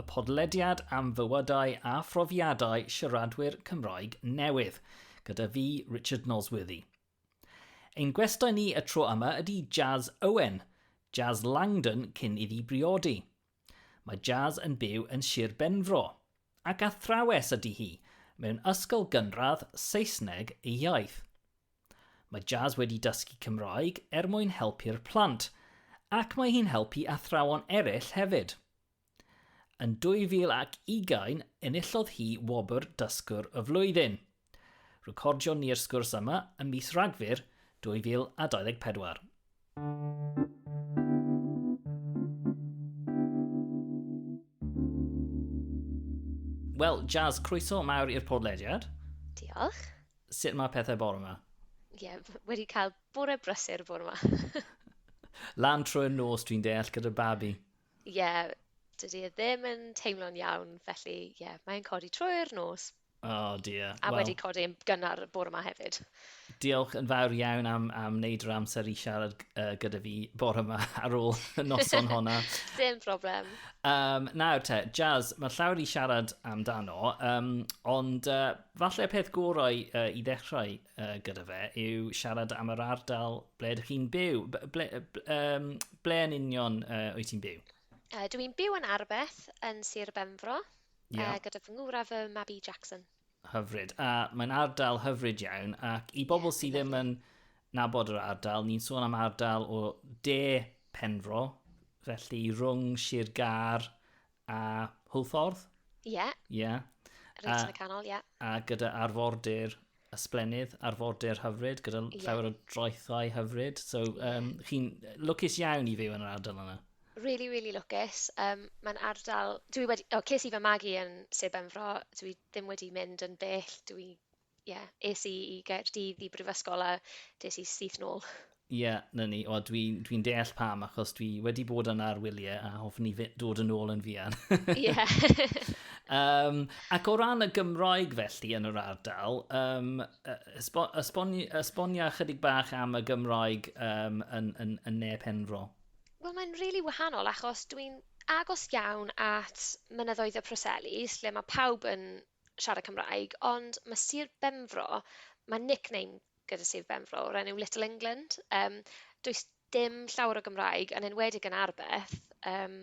y podlediad am fywydau a phrofiadau siaradwyr Cymraeg newydd, gyda fi, Richard Nosworthy. Ein gwestai ni y tro yma ydy Jazz Owen, Jazz Langdon cyn iddi briodi. Mae Jazz yn byw yn Sir Benfro, ac athrawes ydy hi, mewn ysgol gynradd Saesneg ei iaith. Mae Jazz wedi dysgu Cymraeg er mwyn helpu'r plant, ac mae hi'n helpu athrawon eraill hefyd. Yn 2020, enillodd hi wobr Dysgwr y Flwyddyn. Recordion ni'r sgwrs yma ym mis Rhagfyr 2024. Wel, Jazz, croeso mawr i'r podlediad. Diolch. Sut mae pethau bore yma? Ie, yeah, wedi cael bore brysur bore yma. Lan trwy'r nos dwi'n deall gyda babi. Ie, dydy e ddim yn teimlo'n iawn, felly ie, yeah, mae'n codi trwy'r nos. Oh dear. A well, wedi codi yn gynnar y bore yma hefyd. Diolch yn fawr iawn am, am wneud yr amser i siarad uh, gyda fi bore yma ar ôl y noson honna. Dim problem. Um, nawr te, Jazz, mae llawer i siarad amdano, um, ond uh, falle peth gorau uh, i ddechrau uh, gyda fe yw siarad am yr ardal ble ydych chi'n byw. Ble, um, ble yn union uh, wyt ti'n byw? Uh, dw i'n byw yn Arbeth, yn Sir Benfro, yeah. uh, gyda fy ngwra fy Mabi Jackson. Hyfryd. A mae'n ardal hyfryd iawn, ac i bobl yeah, sydd ddim yn nabod yr ardal, ni'n sôn am ardal o de Penfro, felly rhwng Sir Gar A Hwlffordd? Ie. Ie. Reit yn y canol, ie. A gyda arfordir ysblennydd, arfordir hyfryd, gyda yeah. llawer o droethau hyfryd. So, um, chi'n lwcus iawn i fyw yn yr ardal yna. Really, really lwcus. Um, Mae'n ardal... Dwi wedi... O, ces i fy magu yn Sir Benfro. Dwi ddim wedi mynd yn bell. Dwi ie, yeah, es i i Gaerdydd i brifysgol a des i syth nôl. Ie, yeah, na ni. O, dwi'n dwi, deall pam, achos dwi wedi bod yna ar wyliau a hoffwn ni dod yn ôl yn fian. Ie. um, ac o ran y Gymraeg felly yn yr ardal, um, esbonia chydig bach am y Gymraeg um, yn, yn, yn ne Penfro. Wel, mae'n rili really wahanol achos dwi'n agos iawn at mynyddoedd y Proselis, lle mae pawb yn siarad Cymraeg, ond ma' Sir Benfro, ma' nickname gyda Sir Benfro o'r enw Little England, um, does dim llawer o Gymraeg, yn enwedig yn Arbeth. Um...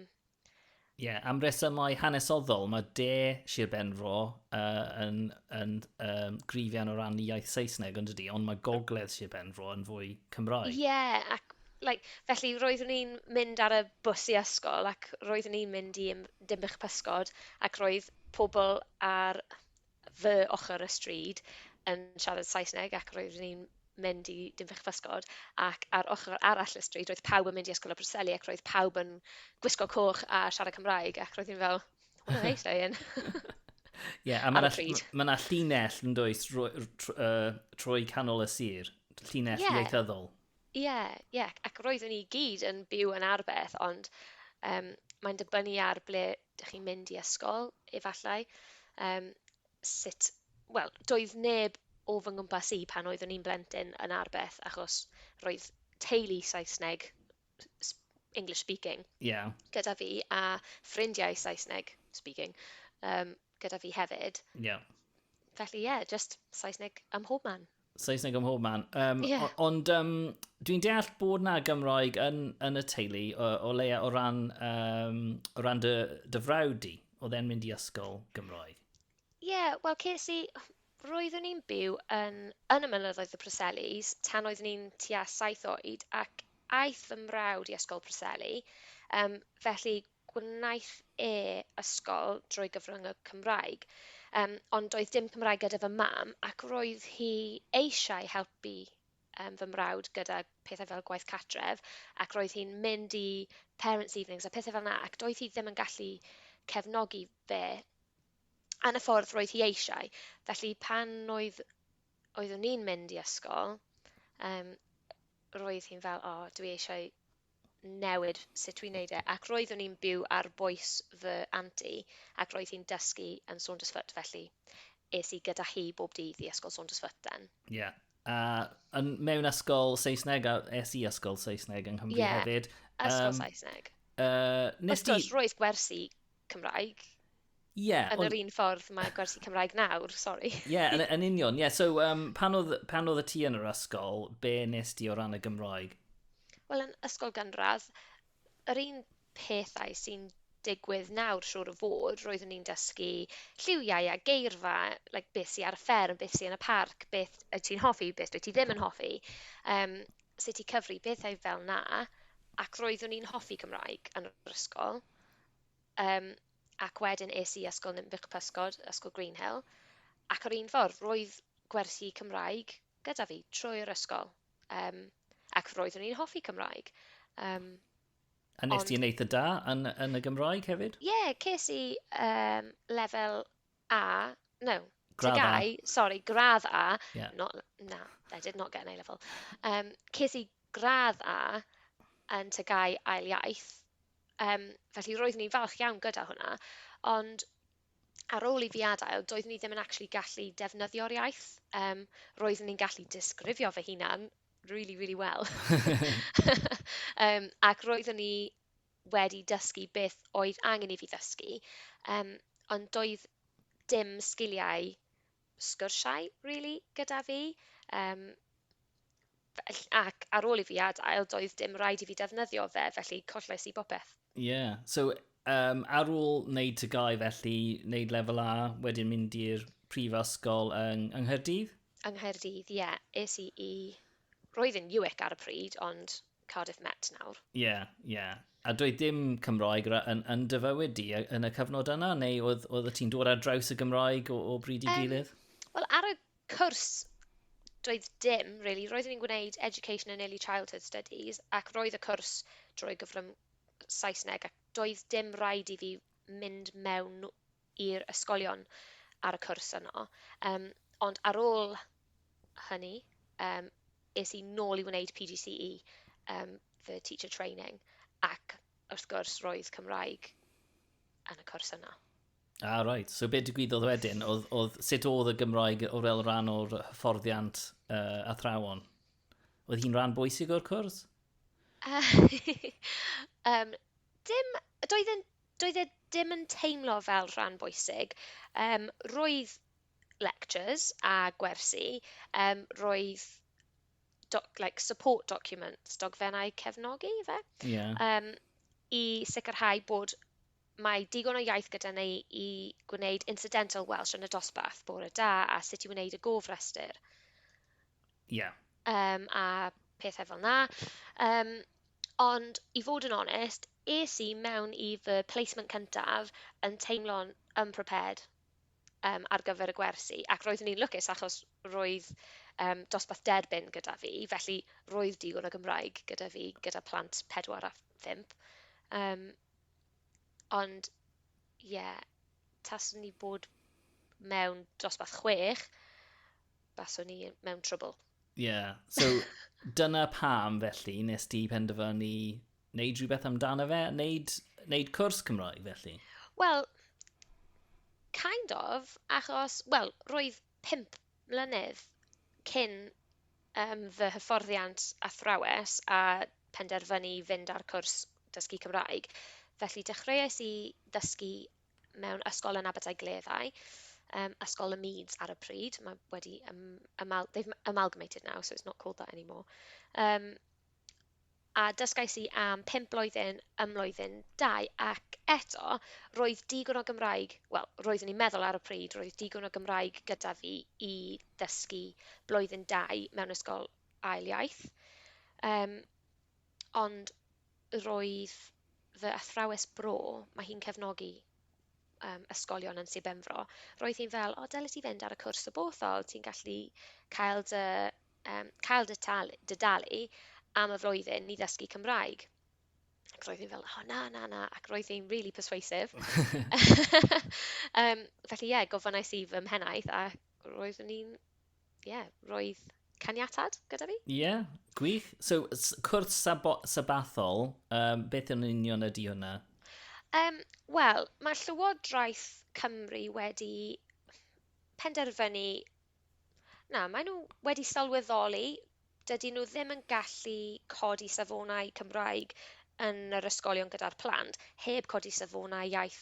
Ie, yeah, am resymau hanesoddol, mae de Sir Benfro uh, yn, yn um, grifian o ran iaith Saesneg, ond ydy, ond mae gogledd Sir Benfro yn fwy Cymraeg. Ie, yeah, ac Like, felly roeddwn i'n mynd ar y bws i ysgol ac roeddwn i'n mynd i Im- Dinbych y Pysgod ac roedd pobl ar fy ochr y stryd yn siarad Saesneg ac roeddwn i'n mynd i Dinbych y Pysgod ac ar ochr arall y stryd roedd pawb yn mynd i Ysgol y Preseli ac roedd pawb yn gwisgo coch a siarad Cymraeg ac roedd i'n fel, what are they saying? Ie, yeah, a mae'na ma llinell yn dweud trwy, trwy, uh, trwy canol y sir, llinell yeah. ieithyddol. Ie, ie, ac roeddwn ni i gyd yn byw yn Arbeth, ond yym mae'n dibynnu ar ble dych chi'n mynd i ysgol, efallai, yym sut... Wel, doedd neb o fy nghwmpas i pan oeddwn i'n blentyn yn Arbeth, achos roedd teulu Saesneg, s- English speaking... Ie. ...gyda fi, a ffrindiau Saesneg speaking yym gyda fi hefyd... Ie. ...felly ie, jyst Saesneg ym mhob man. Saesneg ym mhob man. Um, yeah. Ond um, dwi'n deall bod na Gymroeg yn, yn y teulu, o, o leia o ran, um, o ran dy, dy frawd di, o dde'n mynd i ysgol Gymroeg. Ie, yeah, wel, ces i... Roeddwn i'n byw yn, yn y mynyddoedd y Preselis tan oeddwn i'n tua saith oed ac aeth fy mrawd i ysgol Preseli. Um, felly, gwnaeth e ysgol drwy gyfrwng y Cymraeg, yym, ond doedd dim Cymraeg gyda fy mam, ac roedd hi eisiau helpu yym fy mrawd gyda pethau fel gwaith cartref, ac roedd hi'n mynd i parents' evenings a pethau fel 'na, ac doedd hi ddim yn gallu cefnogi fe yn y ffordd roedd hi eisiau. Felly pan oedd oeddwn i'n mynd i ysgol, yym, roedd hi'n fel, 'O, dwi eisiau newid sut dwi'n neud e ac roeddwn i'n byw ar bwys fy anti ac roedd hi'n dysgu yn Saundersfoot felly es i gyda hi bob dydd i ysgol Saundersfoot then. Ie. Yeah. A yn mewn ysgol Saesneg, a es i ysgol Saesneg yng Nghymru yeah. hefyd. Ysgol um, Saesneg. Uh, nes Wrth gwrs, roedd gwersi Cymraeg. Ie. Yn ond... yr un ffordd mae gwersi Cymraeg nawr, sori. Ie, yeah, yn, yn union. Ie, yeah, so um, pan, oedd, pan oedd y ti yn yr ysgol, be nes di o ran y Gymraeg? Wel, yn ysgol gynradd, yr un pethau sy'n digwydd nawr siwr o fod, roeddwn ni'n dysgu lliwiau a geirfa, like, beth sy'n ar y fferm, beth sy'n yn y parc, beth y ti'n hoffi, beth dwi ti ddim yn hoffi, um, sut i cyfri, pethau fel na, ac roeddwn ni'n hoffi Cymraeg yn yr ysgol. Um, ac wedyn es i Ysgol Ninbych Pysgod, Ysgol Greenhill, ac ar un ffordd, roedd gwersi Cymraeg gyda fi trwy'r ysgol. Um, ac roeddwn i'n hoffi Cymraeg. Um, A nes ti yn eitha da yn, yn y Gymraeg hefyd? Ie, yeah, ces i um, lefel A, no, Gradd A. TGAU, sori, gradd A, Ie. not, na, I did not get an A-level. Yym, ces i gradd A yn TGAU ail iaith, yym, felly roeddwn i'n falch iawn gyda hwnna, ond ar ôl i fi adael, doeddwn i ddim yn actually gallu defnyddio'r iaith, yym, roeddwn i'n gallu disgrifio fy hunan really, really well, yym, ac roeddwn i... wedi dysgu beth oedd angen i fi ddysgu, yym, ond doedd dim sgiliau sgyrsiau rili gyda fi, yym, fell- ac ar ôl i fi adael, doedd dim rhaid i fi defnyddio fe, felly collais i bopeth. Ie, yeah. so um, ar ôl wneud tygau felly, wneud lefel A, wedyn mynd i'r prifysgol yng, yng Nghaerdydd? Yng Nghaerdydd, ie. Yeah. Es i i... Roedd yn UIC ar y pryd, ond Cardiff Met nawr. Ie, ie. A doedd dim Cymroeg yn, yn dy fywyd di yn y cyfnod yna, neu oedd, oedd ti'n dod ar draws y Gymroeg o, o bryd i gilydd? Um, Wel, ar y cwrs, doedd dim, really. Roeddwn i'n gwneud Education and Early Childhood Studies, ac roedd y cwrs drwy gyfrwng Saesneg, ac doedd dim rhaid i fi mynd mewn i'r ysgolion ar y cwrs yno, yym ond ar ôl hynny yym es i nôl i wneud PGCE yym fy Teacher Training ac wrth gwrs roedd Cymraeg yn y cwrs yno. Ah, right. So be digwyddodd wedyn? Oedd, oedd, sut oedd y Gymraeg o fel rhan o'r hyfforddiant uh, athrawon? Oedd hi'n rhan bwysig o'r cwrs? um, dim, doedd yn Doedd e dim yn teimlo fel rhan bwysig. Yym, roedd lectures a gwersi, um, roedd doc, like, support documents, dogfennau cefnogi, fe? Yeah. Um, I sicrhau bod mae digon o iaith gyda ni i gwneud incidental Welsh yn y dosbarth, bore da a sut i wneud y gofrestr. Ie. Yeah. Um, a pethau fel na. Um, ond i fod yn onest, es i mewn i fy placement cyntaf yn teimlo'n unprepared um, ar gyfer y gwersi, ac roeddwn i'n lwcus achos roedd um, dosbarth derbyn gyda fi, felly roedd digon o Gymraeg gyda fi, gyda plant 4 a 5. Um, ond, ie, yeah, taswn ni bod mewn dosbarth chwech, baswn ni mewn trwbl. Ie, yeah. so dyna pam felly nes di penderfynu wneud rhywbeth amdano fe, wneud, wneud cwrs Cymraeg felly? Wel, kind of, achos, wel, roedd pimp mlynedd cyn um, fy hyfforddiant athrawes a penderfynu fynd ar cwrs dysgu Cymraeg. Felly dechreuais i ddysgu mewn ysgol yn Abertau Gleddau, um, Ysgol y Meads ar y pryd. Mae wedi um, amal, they've amalgamated now, so it's not called that anymore. Um, a dysgais i am pimp blwyddyn ym mlwyddyn dau, ac eto, roedd digon o Gymraeg, wel, roeddwn i'n meddwl ar y pryd, roedd digon o Gymraeg gyda fi i ddysgu blwyddyn dau mewn ysgol ail iaith. Um, Ond roedd fy athrawes bro, mae hi'n cefnogi yym ysgolion yn Sir Benfro, roedd hi'n fel, o dyle ti fynd ar y cwrs o Bothol, ti'n gallu cael dy yym cael dy tal- dy dalu am y flwyddyn i ddysgu Cymraeg. Ac roedd hi'n fel, o na, na, na, ac roedd hi'n rili perswaasif. Yym felly ie, gofynnais i fy mhennaeth a roeddwn i'n ie, yeah, roedd caniatad gyda fi. Ie, yeah, gwych. So, cwrs sabathol, um, beth yn union ydy hwnna? Um, Wel, mae Llywodraeth Cymru wedi penderfynu... Na, maen nhw wedi sylweddoli, dydy nhw ddim yn gallu codi safonau Cymraeg yn yr ysgolion gyda'r plant, heb codi safonau iaith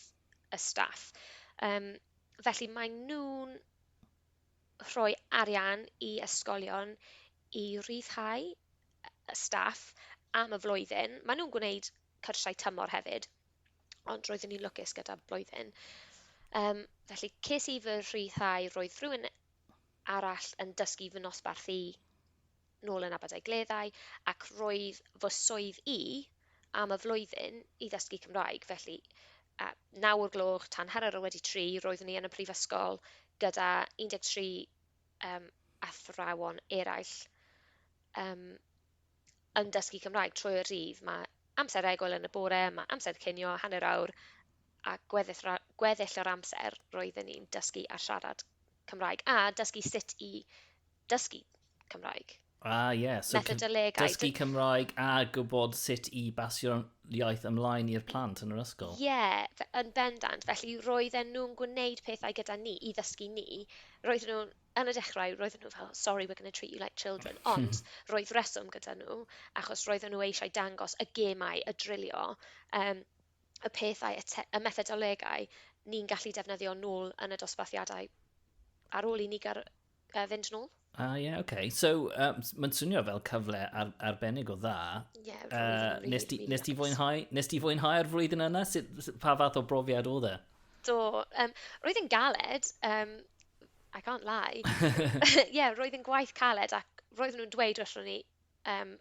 y staff. Um, felly maen nhw'n rhoi arian i ysgolion i ryddhau staff am y flwyddyn. Maen nhw'n gwneud cyrsiau tymor hefyd, ond roeddwn i'n lwcus gyda blwyddyn. Um, felly, ces i fy rhyddhau, roedd rhywun arall yn dysgu fy nosbarth i nôl yn Aberdaugleddau ac roedd fy swydd i am y flwyddyn i ddysgu Cymraeg, felly a, naw o'r gloch tan hanner ar wedi tri roeddwn i yn y prifysgol gyda 13 um, athrawon eraill um, yn dysgu Cymraeg trwy y rhydd. Mae amser egwyl yn y bore, mae amser cynio, hanner awr, a gweddill, gweddill o'r amser roeddwn i'n dysgu a siarad Cymraeg a dysgu sut i dysgu Cymraeg. Ah, ie. Yeah. So Methodolegau. Dysgu Cymraeg a gwybod sut i basio'r iaith ymlaen i'r plant yn yr ysgol. Ie, yeah, yn bendant. Felly roedden nhw'n gwneud pethau gyda ni i ddysgu ni. Roedden nhw'n, yn y dechrau, roedden nhw fel, sorry, we're going to treat you like children. Ond roedd reswm gyda nhw, achos roedden nhw eisiau dangos y gemau, y drilio, um, y pethau, y, y methodolegau ni'n gallu defnyddio nôl yn y dosbarthiadau ar ôl i ni gael uh, fynd nôl. Ah, ie, yeah, oce. Okay. So, um, mae'n swnio fel cyfle ar, arbennig o dda. Ie, yeah, uh, really, nes, really nes, ti fwynhau, nes ti fwynhau'r flwyddyn yna? Sut, pa fath o brofiad oedd e? Do. Um, roedd yn galed, um, I can't lie. Ie, yeah, roedd yn gwaith caled ac roedd nhw'n dweud wrthyn ni um,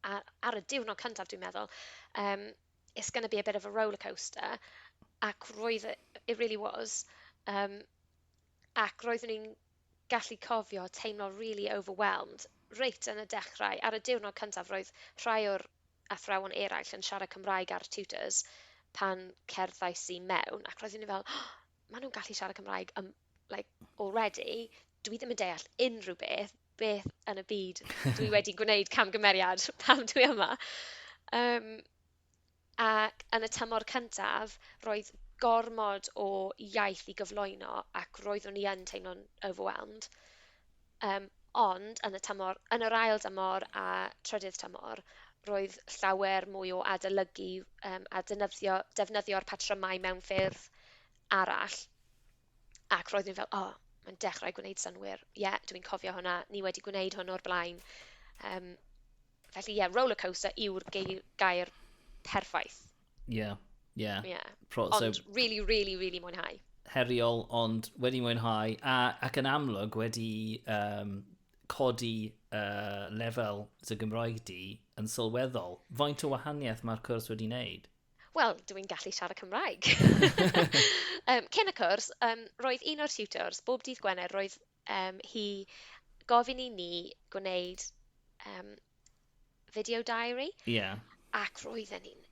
ar, ar y diwrnod cyntaf, dwi'n meddwl, um, it's going to be a bit of a roller coaster, ac roedd, it really was, um, ac roeddwn i'n gallu cofio teimlo rili overwhelmed reit yn y dechrau, ar y diwrnod cyntaf roedd rhai o'r athrawon eraill yn siarad Cymraeg â'r tutors pan cerddais i mewn ac roeddwn i fel oh, maen nhw'n gallu siarad Cymraeg um, like, already, dwi ddim yn deall unrhyw beth, beth yn y byd dwi wedi gwneud camgymeriad pam dwi yma. Um, Ac yn y tymor cyntaf, roedd gormod o iaith i gyflwyno ac roeddwn i yn teimlo'n overwhelmed. Yym, ond yn y tymor... yn yr ail dymor a trydydd tymor, roedd llawer mwy o adolygu yym a denyddio- defnyddio'r patrymau mewn ffyrdd arall, ac roeddwn i fel, 'O, mae'n dechrau gwneud synnwyr. Ie, dwi'n cofio hwnna. Ni wedi gwneud hwn o'r blaen. Yym. Felly ie, yeah, rollercoaster yw'r gair perffaith. Ie, yeah, ie. Yeah. Yeah. Pro, so, ond really, really, really mwynhau. Heriol, ond wedi mwynhau, a, ac yn amlwg wedi um, codi uh, lefel dy Gymraeg di yn sylweddol. Faint o wahaniaeth mae'r cwrs wedi wneud? Wel, dw i'n gallu siarad Cymraeg. um, cyn y cwrs, um, roedd un o'r tutors, bob dydd Gwener, roedd Yym hi gofyn i ni gwneud yym video diary... Ie. ...ac roedden ni'n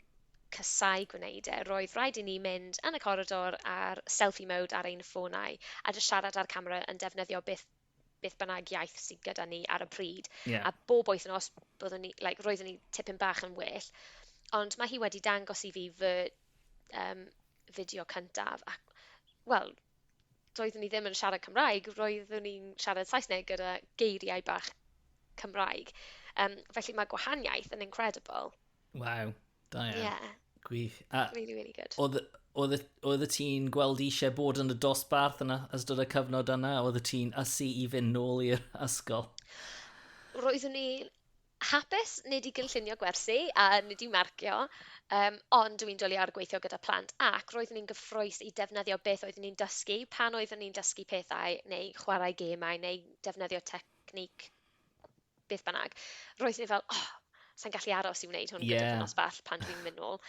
casáu gwneud e. Roedd rhaid i ni mynd yn y coridor ar selfie mode ar ein ffonau a jyst siarad â'r camera yn defnyddio beth beth bynnag iaith sydd gyda ni ar y pryd... Ie. ...a bob wythnos byddwn ni like roeddwn ni tipyn bach yn well ond mae hi wedi dangos i fi fy yym fideo cyntaf ac wel doeddwn ni ddim yn siarad Cymraeg, roeddwn ni'n siarad Saesneg gyda geiriau bach Cymraeg. Um, felly mae gwahaniaeth yn incredible. Waw, da iawn. Yeah. Gwych. A, really, really good. Oedd y ti'n gweld eisiau bod yn y dosbarth yna ystod y cyfnod yna? Oedd y ti'n ysu i fynd nôl i'r ysgol? Roeddwn i'n Hapus, nid i gynllunio gwersi a nid i'w marcio, yym, ond dw i'n dwli ar gweithio gyda phlant ac roeddwn i'n gyffrous i defnyddio beth oeddwn i'n dysgu pan oeddwn i'n dysgu pethau neu chwarae gêmau neu defnyddio technique beth bynnag. Roeddwn i fel, oh, sa i'n gallu aros i wneud hwn gyda fy nosbell pan dwi'n mynd nôl.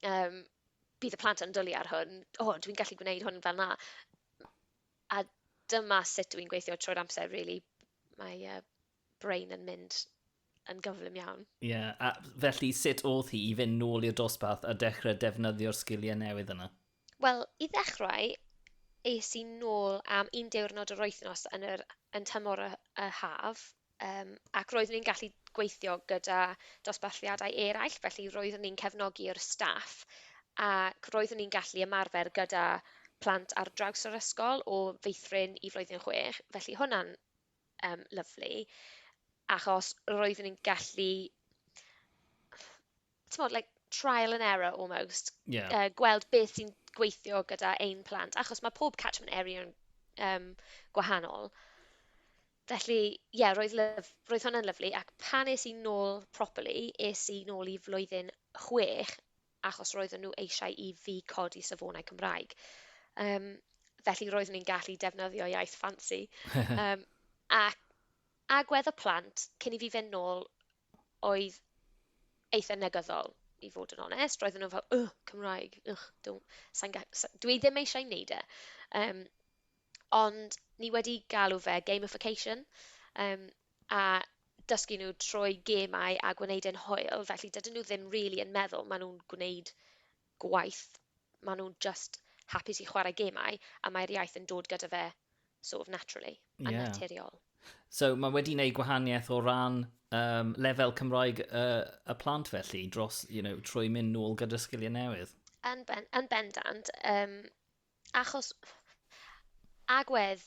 Yym, bydd y plant yn dwlu ar hwn, o, dw i'n gallu gwneud hwn fel 'na. A dyma sut dw i'n gweithio trwy'r amser rili. Mae yy... brain yn mynd yn gyflym iawn. Ie, yeah, a felly sut oedd hi i fynd nôl i'r dosbarth a dechrau defnyddio'r sgiliau newydd yna? Wel, i ddechrau, es i nôl am un diwrnod yr wythnos yn, yr, yn tymor y, y haf, um, ac roeddwn i'n gallu gweithio gyda dosbarthiadau eraill, felly roeddwn ni'n cefnogi'r staff ac roeddwn ni'n gallu ymarfer gyda plant ar draws yr ysgol o feithrin i flwyddyn chwech, felly hwnna'n Yym lyfli achos roeddwn i'n gallu t'mod like trial and error almost... Ie. ...yy gweld beth sy'n gweithio gyda ein plant achos ma' pob catchment area yn yym gwahanol. Felly ie roedd lyf- roedd hwnna'n lyfli ac pan es i nôl properly es i nôl i flwyddyn chwech achos roedden nhw eisiau i fi codi safonau Cymraeg. Um, felly roeddwn i'n gallu defnyddio iaith ffansi. um, a, a gwedd y plant, cyn i fi fynd nôl, oedd eitha negyddol, i fod yn onest. Roedden nhw fel, ugh, Cymraeg, ugh, sa'n ga... dwi ddim eisiau wneud e. Um, Ond ni wedi galw fe gamification yym a dysgu nhw trwy gemau a gwneud e'n hwyl, felly dydyn nhw ddim rili yn meddwl maen nhw'n gwneud gwaith, maen nhw'n jyst hapus i chwarae gemau a mae'r iaith yn dod gyda fe sort of naturally, yn yeah. naturiol. So mae wedi gwneud gwahaniaeth o ran um, lefel Cymraeg uh, y plant felly, dros, you know, trwy mynd nôl gyda'r sgiliau newydd? Yn, ben, yn bendant, um, Achos agwedd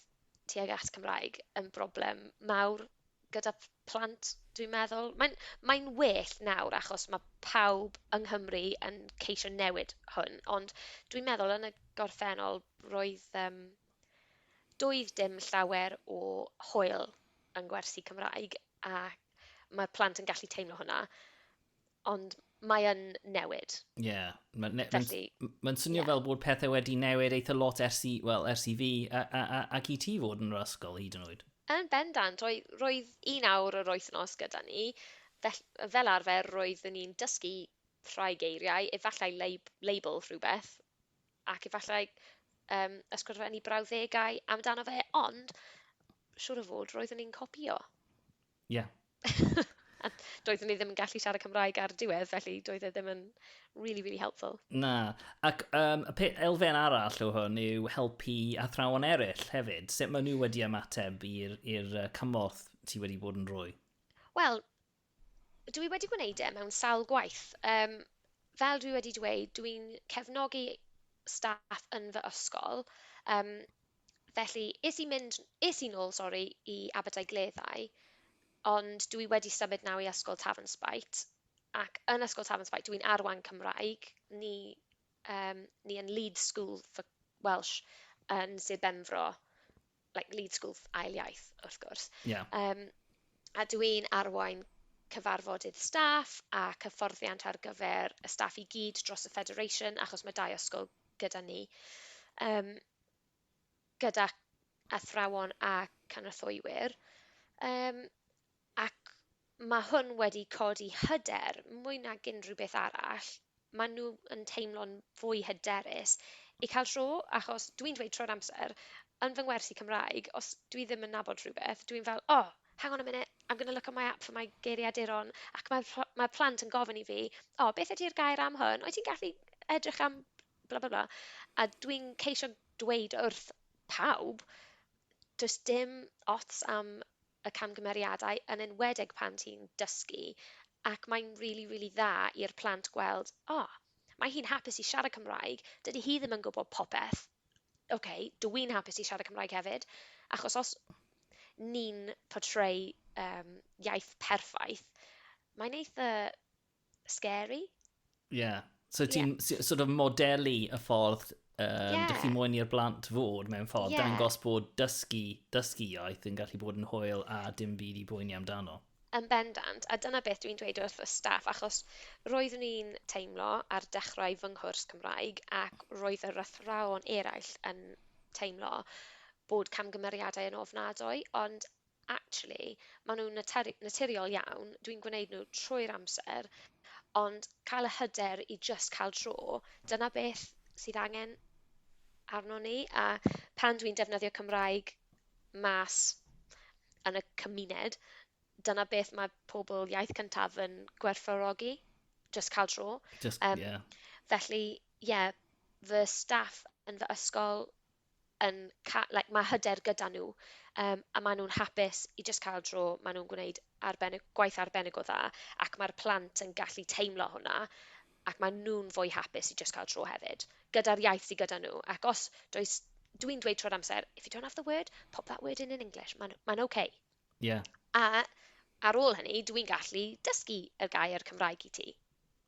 tuag at Cymraeg yn broblem mawr gyda p- plant, dwi'n meddwl. Mae'n mae'n well nawr achos mae pawb yng Nghymru yn ceisio newid hwn, ond dwi'n meddwl yn y gorffennol roedd yym doedd dim llawer o hwyl yng ngwersi Cymraeg a mae plant yn gallu teimlo hwnna. ond mae yn newid. Ie. Yeah. Mae'n ne Felly, ma, ma swnio yeah. fel bod pethau wedi newid eitha lot ers i, well, ers i fi a, a, a, ac i ti fod yn yr ysgol hyd yn oed. Yn bendant, roedd, roedd un awr yr wythnos gyda ni. Fel, fel arfer, roeddwn ni'n dysgu rhai geiriau, efallai lab, label rhywbeth, ac efallai um, ysgrifennu brawddegau amdano fe, ond siwr o fod roeddwn ni'n copio. Ie. A doeddwn i ddim yn gallu siarad Cymraeg ar y diwedd, felly doedd e ddim yn really, really helpful. Na. Ac um, y elfen arall o hwn yw helpu athrawon eraill hefyd. Sut maen nhw wedi ymateb i'r cymorth ti wedi bod yn rhoi? Wel, dwi wedi gwneud e mewn sawl gwaith. Um, fel dwi wedi dweud, dwi'n cefnogi staff yn fy ysgol. Um, Felly, es i mynd... es i nôl, sori, i Abertau Gleddau, ond dwi wedi symud nawr i Ysgol Tafan Spite, ac yn Ysgol Tafan Spite, dw i'n arwain Cymraeg, ni yym ni yn Leeds School for Welsh yn Sir Benfro, like Leeds School ail iaith, wrth gwrs. Yeah. Um, a dw i'n arwain cyfarfodydd staff a cyfforddiant ar gyfer y staff i gyd dros y Federation, achos mae dau ysgol gyda ni. Um, gyda athrawon a cynrythwywyr, yym, ac ma' hwn wedi codi hyder mwy nag unrhyw beth arall. Ma' nhw yn teimlo'n fwy hyderus i cael tro, achos dwi'n dweud tro'r amser, yn fy ngwersi Cymraeg, os dwi ddim yn nabod rhywbeth, dwi'n fel, oh, hang on a minute, I'm going to look on my app for my geiriaduron, ac mae'r mae'r plant yn gofyn i fi, oh, beth ydi'r gair am hwn? Wyt ti'n gallu edrych am bla bla bla, a dwi'n ceisio dweud wrth pawb, does dim ots am y camgymeriadau, yn enwedig pan ti'n dysgu, ac mae'n rili, rili dda i'r plant gweld, o, mae hi'n hapus i siarad Cymraeg, dydy hi ddim yn gwybod popeth, ok, dw i'n hapus i siarad Cymraeg hefyd, achos os ni'n portray yym iaith perffaith, mae'n eitha'... scary. Ie. Yeah. So ti'n yeah. sort of modelu y ffordd um, yeah. dych chi moyn i'r blant fod mewn ffordd, yeah. dangos bod dysgu, dysgu iaith yn gallu bod yn hwyl a dim byd i bwyni amdano. Yn bendant, a dyna beth dwi'n dweud wrth y staff, achos roeddwn i'n teimlo ar dechrau fy nghwrs Cymraeg ac roedd yr athrawon eraill yn teimlo bod camgymeriadau yn ofnadwy, ond Actually, maen nhw'n natur- naturiol iawn, dwi'n gwneud nhw trwy'r amser, ond cael y hyder i jyst cael dro, dyna beth sydd angen arnon ni, a pan dwi'n defnyddio Cymraeg mas yn y cymuned, dyna beth mae pobl iaith cyntaf yn gwerthfawrogi, jyst cael dro. Just, Um, yeah. Felly, ie, yeah, fy staff yn fy ysgol yn ca- like, mae hyder gyda nhw um, a maen nhw'n hapus i just cael dro, maen nhw'n gwneud arbennig, gwaith arbennig o dda ac mae'r plant yn gallu teimlo hwnna ac maen nhw'n fwy hapus i just cael dro hefyd gyda'r iaith sydd gyda nhw ac os does dwi'n dweud tro'r amser if you don't have the word, pop that word in in English, mae'n ma okay. Yeah. A ar ôl hynny, dwi'n gallu dysgu y gair Cymraeg i ti.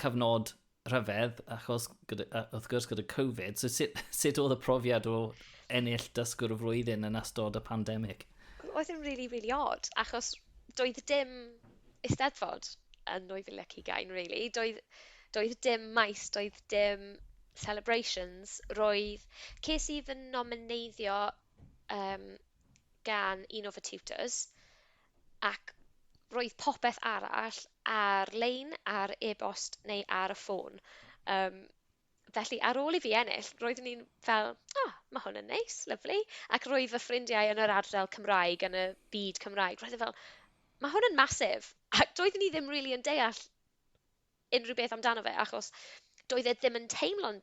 cyfnod rhyfedd, achos gyda, wrth gwrs gyda Covid, so sut, sut oedd y profiad o ennill dysgwr y flwyddyn yn astod y pandemig? Oedd yn really, really odd, achos doedd dim eisteddfod yn 2020, really. Doedd, doedd dim maes, doedd dim celebrations, roedd... Ces i fy nomineiddio um, gan un o fy tutors, ac roedd popeth arall ar-lein ar e-bost neu ar y ffôn. Um, felly, ar ôl i fi ennill, roeddwn i'n fel, o, oh, mae hwn yn neis, lyflu. Ac roedd fy ffrindiau yn yr ardal Cymraeg, yn y byd Cymraeg, roedd e fel, mae hwn yn masif. Ac doeddwn i ddim rili really yn deall unrhyw beth amdano fe, achos doedd e ddim yn teimlo'n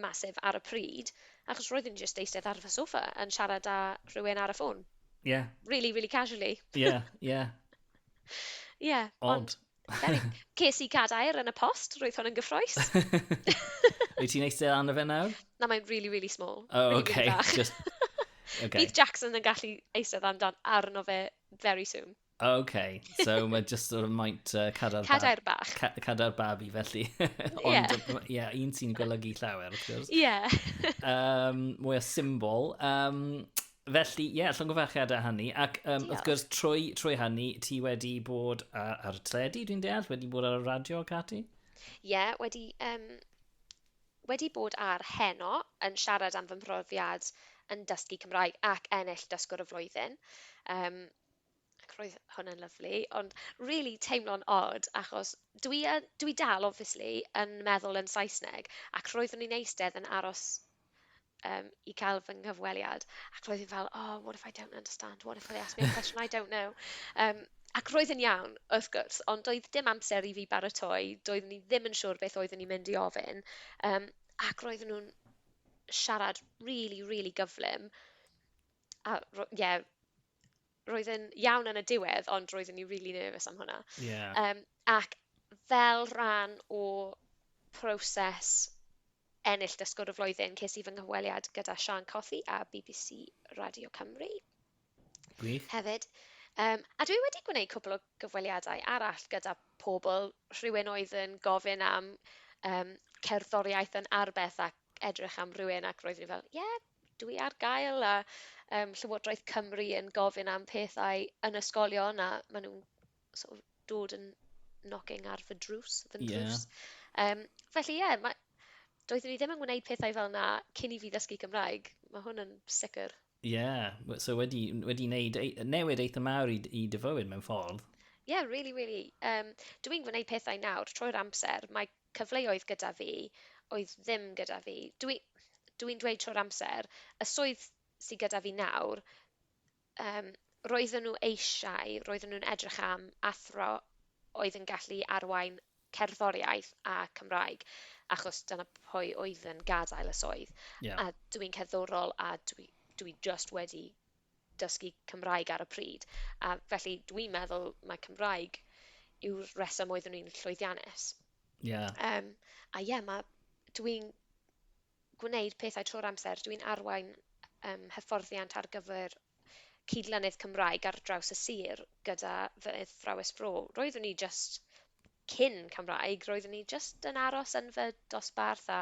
massive ar y pryd, achos roeddwn i jyst eistedd ar fy sofa yn siarad â rhywun ar y ffôn. Ie. Yeah. Really, really casually. Ie, yeah, ie. Yeah. Ie, yeah, ond... Ces i cadair yn y post, roedd hwn yn gyffroes. Wyt ti'n eistedd arno fe nawr? Na, mae'n really, really small. Oh, really, okay. Really Just... okay. Bydd Jackson yn gallu eistedd amdan arno fe very soon. OK, so mae just o'r maint uh, cadair, cadair bach. Ca cadair babi, felly. Ond, ie, yeah. un sy'n golygu llawer, wrth gwrs. Ie. Yeah. um, mwy o symbol. Um, Felly, ie, yeah, llongyfarchiadau a hynny. Ac um, wrth gwrs, trwy, trwy hynny, ti wedi bod ar, ar y tredi, dwi'n deall? Wedi bod ar y radio, Cati? Ie, yeah, wedi, um, wedi bod ar heno yn siarad am fy mhrofiad yn dysgu Cymraeg ac ennill dysgwr y flwyddyn. Um, ac roedd hwnna'n lyfli, ond rili teimlo'n od, achos dwi yn, dwi dal obviously yn meddwl yn Saesneg, ac roeddwn i'n eistedd yn aros um, i cael fy nghyfweliad, ac roedd hi'n fel, oh, what if I don't understand, what if they ask me a question I don't know. Um, ac roedd yn iawn, wrth gwrs, ond doedd dim amser i fi baratoi, doeddwn i ddim yn siŵr beth oeddwn i'n mynd i ofyn, um, ac roedden nhw'n siarad really, really gyflym. a ro- ie, roedd e'n iawn yn y diwedd, ond roeddwn i'n really nervous am hwnna. Ie. Yym, ac fel rhan o proses ennill dysgwr y flwyddyn, ces i fy nghyfweliad gyda Siân Cothi a BBC Radio Cymru. Gwych. Hefyd. Um, a dwi wedi gwneud cwbl o gyfweliadau arall gyda pobl, rhywun oedd yn gofyn am um, cerddoriaeth yn arbeth ac edrych am rywun ac roeddwn i fel, ie, yeah, dwi ar gael a um, Llywodraeth Cymru yn gofyn am pethau yn ysgolion a maen nhw'n sort of, dod yn knocking ar fy drws, fy nrws. Yeah. Um, felly ie, yeah, ma... doeddwn ni ddim yn gwneud pethau fel yna cyn i fi ddysgu Cymraeg. Mae hwn yn sicr. Ie, yeah. so wedi, wedi wneud e, newid eitha mawr i, i dyfywyd mewn ffordd. Ie, yeah, really, really. Um, Dwi'n gwneud pethau nawr, troi'r amser. Mae cyfleoedd gyda fi oedd ddim gyda fi. Dwi dw i'n dweud trwy'r amser, y swydd sydd gyda fi nawr, um, roedden nhw eisiau, roedden nhw'n edrych am athro oedd yn gallu arwain cerddoriaeth a Cymraeg, achos dyna pwy oedd yn gadael y swydd. Yeah. A dwi'n cerddorol a dwi, dwi just wedi dysgu Cymraeg ar y pryd, a felly dwi'n meddwl mae Cymraeg yw'r reswm oeddwn i'n llwyddiannus. Yeah. Um, a ie, yeah, mae dwi'n gwneud pethau trwy'r amser, dwi'n arwain um, hyfforddiant ar gyfer cydlynydd Cymraeg ar draws y sir gyda fy athrawes fro. Roeddwn i just Cyn Cymraeg, roeddwn i jyst yn aros yn fy dosbarth a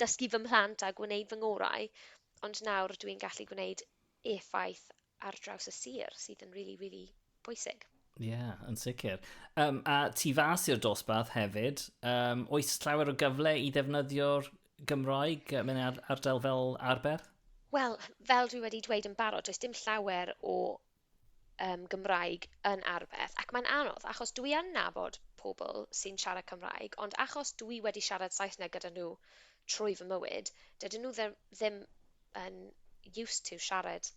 dysgu fy mhlant a gwneud fy ngorau, ond nawr dwi'n gallu gwneud effaith ar draws y sir, sydd yn rili, rili bwysig. Ie, yeah, yn sicr. Um, a tu fas i'r dosbarth hefyd, um, oes llawer o gyfle i ddefnyddio'r Gymraeg mewn ar ardal fel arfer? Wel, fel dwi wedi dweud yn barod, does dim llawer o yym Gymraeg yn arbeth ac mae'n anodd achos dwi yn nabod pobl sy'n siarad Cymraeg ond achos dwi wedi siarad Saesneg gyda nhw trwy fy mywyd dydyn nhw dde- ddim yn used to siarad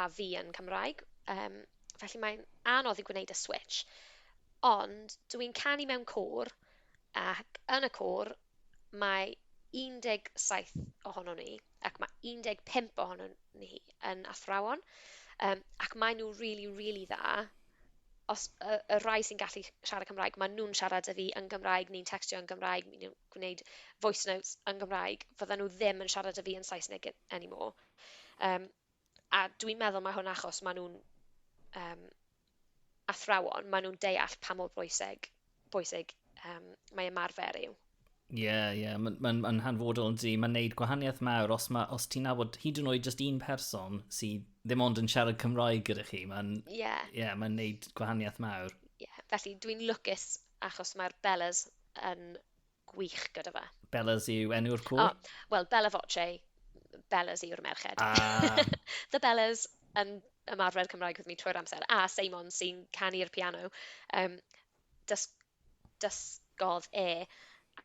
â fi yn Cymraeg yym felly mae'n anodd i gwneud y switsh ond dw i'n canu mewn côr ac yn y côr mae 17 ohonon ni, ac mae 15 ohonon ni yn athrawon, um, ac maen nhw rili, really, rili really dda. Os y, y rhai sy'n gallu siarad Cymraeg, maen nhw'n siarad â fi yn Gymraeg, ni'n textio yn Gymraeg, ni'n gwneud voice notes yn Gymraeg, fydden nhw ddim yn siarad â fi yn Saesneg anymore. Um, a dwi'n meddwl mae hwn achos maen nhw'n um, athrawon, maen nhw'n deall pa mor bwysig, bwysig um, mae ymarfer yw. Ie, yeah, ie, yeah. mae'n ma, ma hanfodol yn di. Mae'n neud gwahaniaeth mawr os, ma, os ti'n nabod hyd yn oed just un person sydd ddim ond yn siarad Cymraeg gyda chi. Mae'n yeah. yeah, ma neud gwahaniaeth mawr. Yeah. Felly dwi'n lwcus achos mae'r Bellas yn gwych gyda fe. Bellas yw enw'r cwr? Oh, Wel, Bella Voce, Bellas yw'r merched. Ah. The Bellas yn ymarfer Cymraeg wrth mi trwy'r amser, a Seimon sy'n canu'r piano. Um, dys dysgodd e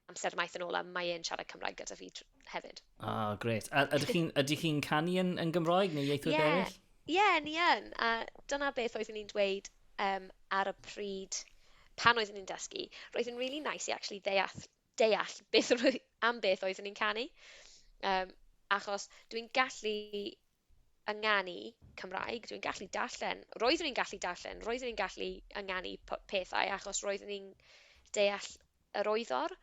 amser maith yn ôl a mae e'n siarad Cymraeg gyda fi hefyd. Ah, oh, gret. A ydych chi'n chi canu yn, yn Gymraeg neu ieithwyd yeah. eraill? Ie, ni yn, a dyna beth oeddwn i'n dweud yym ar y pryd pan oeddwn i'n dysgu. Roedd yn rili neis i actually ddeall deall beth yr oe- am beth oeddwn i'n canu. Yym, achos dwi'n gallu ynganu Cymraeg, dwi'n gallu darllen, roeddwn i'n gallu darllen, roeddwn i'n gallu ynganu p- pethau achos roeddwn i'n deall yr wyddor,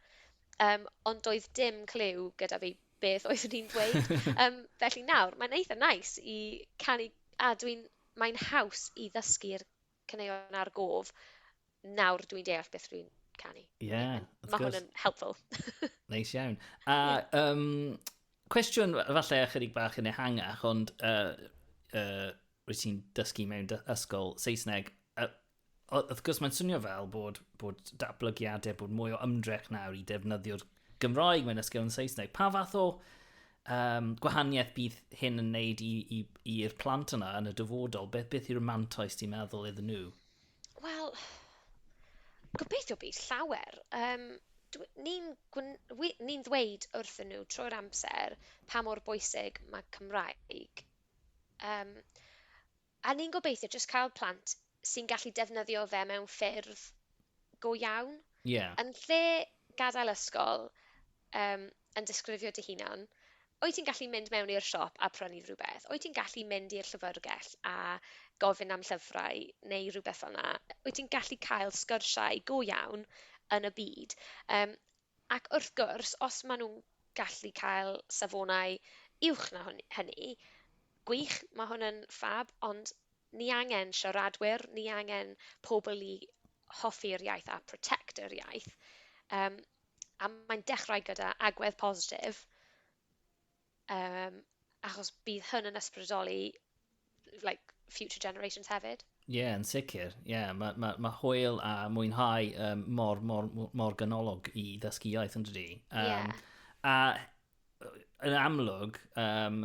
yym, ond doedd dim cliw gyda fi beth oeddwn i'n ddweud. Yym, felly nawr, mae'n eitha neis i canu, a dwi'n, mae'n haws i ddysgu'r caneuon a'r gof, nawr dwi'n deall beth dwi'n canu. Ie, yeah, Mae hwn yn helpful. neis iawn. A, yeah. um, cwestiwn falle ychydig bach yn ehangach, ond uh, uh, rwyt ti'n dysgu mewn ysgol Saesneg, uh, wrth gwrs mae'n swnio fel bod, bod datblygiadau, bod mwy o ymdrech nawr i defnyddio'r Gymraeg mewn ysgol yn Saesneg. Pa fath o um, gwahaniaeth bydd hyn yn wneud i'r plant yna yn y dyfodol? Beth, beth yw'r mantais ti'n meddwl iddyn nhw? Wel, gobeithio bydd llawer. Um, ni'n ni ddweud wrthyn nhw trwy'r amser pa mor bwysig mae Cymraeg. Um, A ni'n gobeithio jyst cael plant sy'n gallu defnyddio fe mewn ffyrdd go iawn. Ie. Yn lle gadael ysgol, yym, yn disgrifio dy hunan, wyt ti'n gallu mynd mewn i'r siop a prynu rhywbeth? Wyt ti'n gallu mynd i'r llyfyrgell a gofyn am llyfrau neu rhywbeth fel 'na? Wyt ti'n gallu cael sgyrsiau go iawn yn y byd? Yym. Ac wrth gwrs, os maen nhw'n gallu cael safonau uwch na hwn- hynny, gwych, mae hwn yn ffab, ond ni angen siaradwyr, ni angen pobl i hoffi'r iaith a protect yr iaith, yym, a mae'n dechrau gyda agwedd positif. Yym, achos bydd hyn yn ysbrydoli like, future generations hefyd. Ie, yeah, yn sicr. Ie, yeah, mae ma, ma hwyl a mwynhau um, mor, mor, mor ganolog i ddysgu iaith yn dydi. Um, yeah. A yn amlwg, um,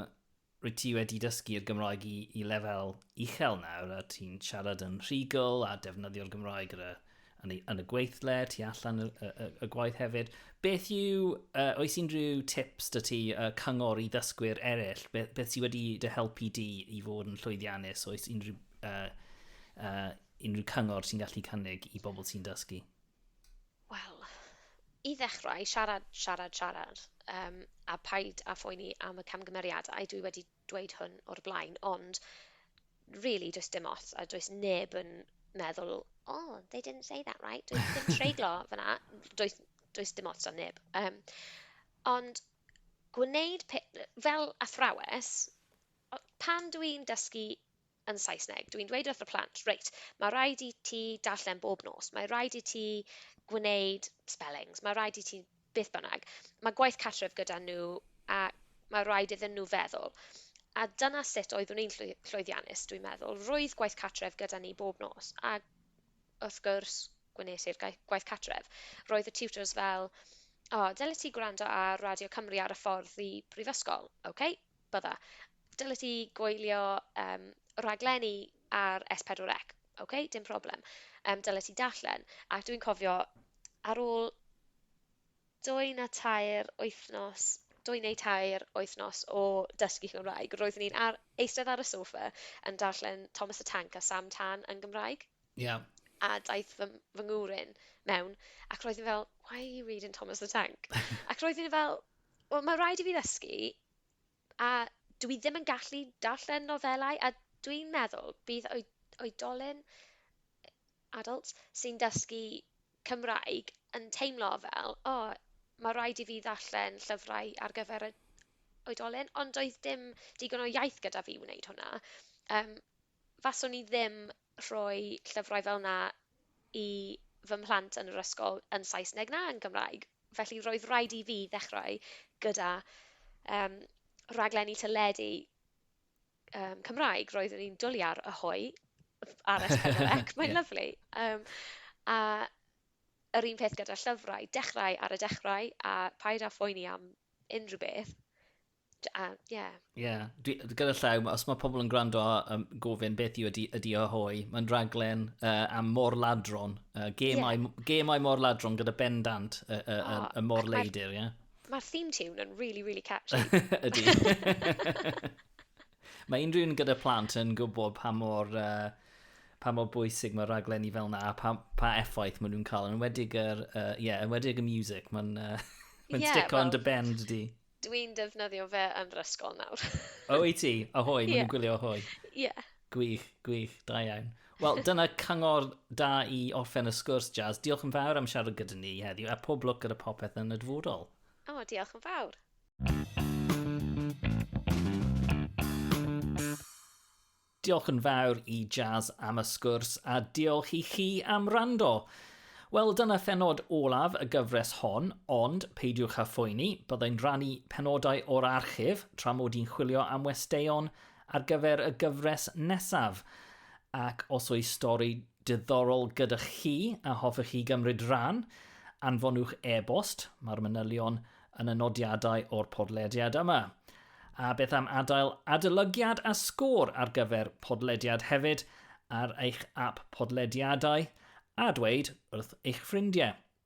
rwy ti wedi dysgu'r Gymraeg i, i lefel uchel nawr a ti'n siarad yn rhigol a defnyddio'r Gymraeg ar y yn, ei, yn y gweithle, tu allan y, y, y gwaith hefyd. Beth yw, uh, oes unrhyw tips dy ti uh, cyngor i ddysgwyr eraill? Beth, beth sydd wedi dy helpu di i fod yn llwyddiannus? Oes unrhyw, uh, uh, unrhyw cyngor sy'n gallu cynnig i bobl sy'n dysgu? Wel, i ddechrau, siarad, siarad, siarad. Um, a paid a phoeni am y camgymeriadau. Dwi wedi dweud hwn o'r blaen ond really does dim ots a does neb yn meddwl oh they didn't say that right does dim treiglo fyna does, does dim ots am neb um, ond gwneud fel athrawes pan dw i'n dysgu yn Saesneg. Dwi'n dweud wrth y plant, reit, mae rhaid i ti darllen bob nos, mae rhaid i ti gwneud spellings, mae rhaid i ti beth bynnag. Mae gwaith cartref gyda nhw a mae rhaid iddyn nhw feddwl. A dyna sut oeddwn i'n llwyddiannus, dwi'n meddwl. Roedd gwaith cartref gyda ni bob nos a wrth gwrs gwnes i'r gwaith cartref. Roedd y tutors fel, o, oh, dylet ti gwrando ar Radio Cymru ar y ffordd i brifysgol, oce? Okay? bydda. Dylet ti gwylio yym rhaglenni ar S4C. Ok, dim problem. Yym dylet ti darllen. Ac dwi'n cofio ar ôl dwy na tair wythnos, dwy neu tair wythnos o dysgu Cymraeg, roeddwn i'n ar, eistedd ar y sofa yn darllen Thomas the Tank a Sam Tan yn Gymraeg. Ie. A daeth fy, fy ngŵr in mewn, ac roedd yn fel, why are you reading Thomas the Tank? ac roedd yn fel, Wel, mae'n rhaid i fi ddysgu, a dwi ddim yn gallu darllen nofelau, a dwi'n meddwl bydd oedolyn, adults, sy'n dysgu Cymraeg yn teimlo fel, o, mae'n rhaid i fi ddarllen llyfrau ar gyfer y oedolyn, ond doedd dim digon o iaith gyda fi i wneud hwnna. Yym, faswn i ddim rhoi llyfrau fel 'na i fy mhlant yn yr ysgol yn Saesneg na yn Gymraeg. Felly roedd raid i fi ddechrau gyda yym rhaglenni teledu yym Cymraeg. Roeddwn i'n dwli ar Ahoy ar S4C, mae'n yeah. lyfli. Um, a yr un peth gyda llyfrau, dechrau ar y dechrau a paid â phoeni am unrhyw beth. A, ie. Yeah. Ie, yeah. gyda llaw, os mae pobl yn gwrando a um, gofyn beth yw ydi, ydi o hoi, mae'n raglen uh, am mor ladron, uh, gemau, yeah. gemau mor ladron gyda bendant y, y, oh, y, y mor leidr, ie? Yeah? Mae'r theme tune yn really, really catchy. ydi. mae unrhyw un gyda plant yn gwybod pa mor... Uh, pa mor bwysig mae raglenni fel na, pa, pa effaith maen nhw'n cael. Yn wedig, er, uh, yeah, yn wedig y music, mae'n uh, ma yeah, stick well, on dy bend di. Dw i'n defnyddio fe yn yr ysgol nawr. O, wyt ti? Ahoy, maen nhw'n gwylio Ahoy. Ie. Gwych, gwych, da iawn. Wel, dyna cyngor da i orffen y sgwrs, Jazz. Diolch yn fawr am siarad gyda ni heddiw, a pob lwc gyda popeth yn y dyfodol. O, diolch yn fawr. Diolch yn fawr i Jazz am y sgwrs a diolch i chi am wrando. Wel, dyna phenod olaf y gyfres hon, ond peidiwch â phoeni, byddai'n rannu penodau o'r archif tra mod i'n chwilio am westeion ar gyfer y gyfres nesaf. Ac os oes stori Diddorol gyda chi a hoffech chi gymryd rhan, anfonwch e-bost, mae'r manylion yn y nodiadau o'r podlediad yma. A beth am adael adolygiad a sgôr ar gyfer podlediad hefyd ar eich ap podlediadau a dweud wrth eich ffrindiau.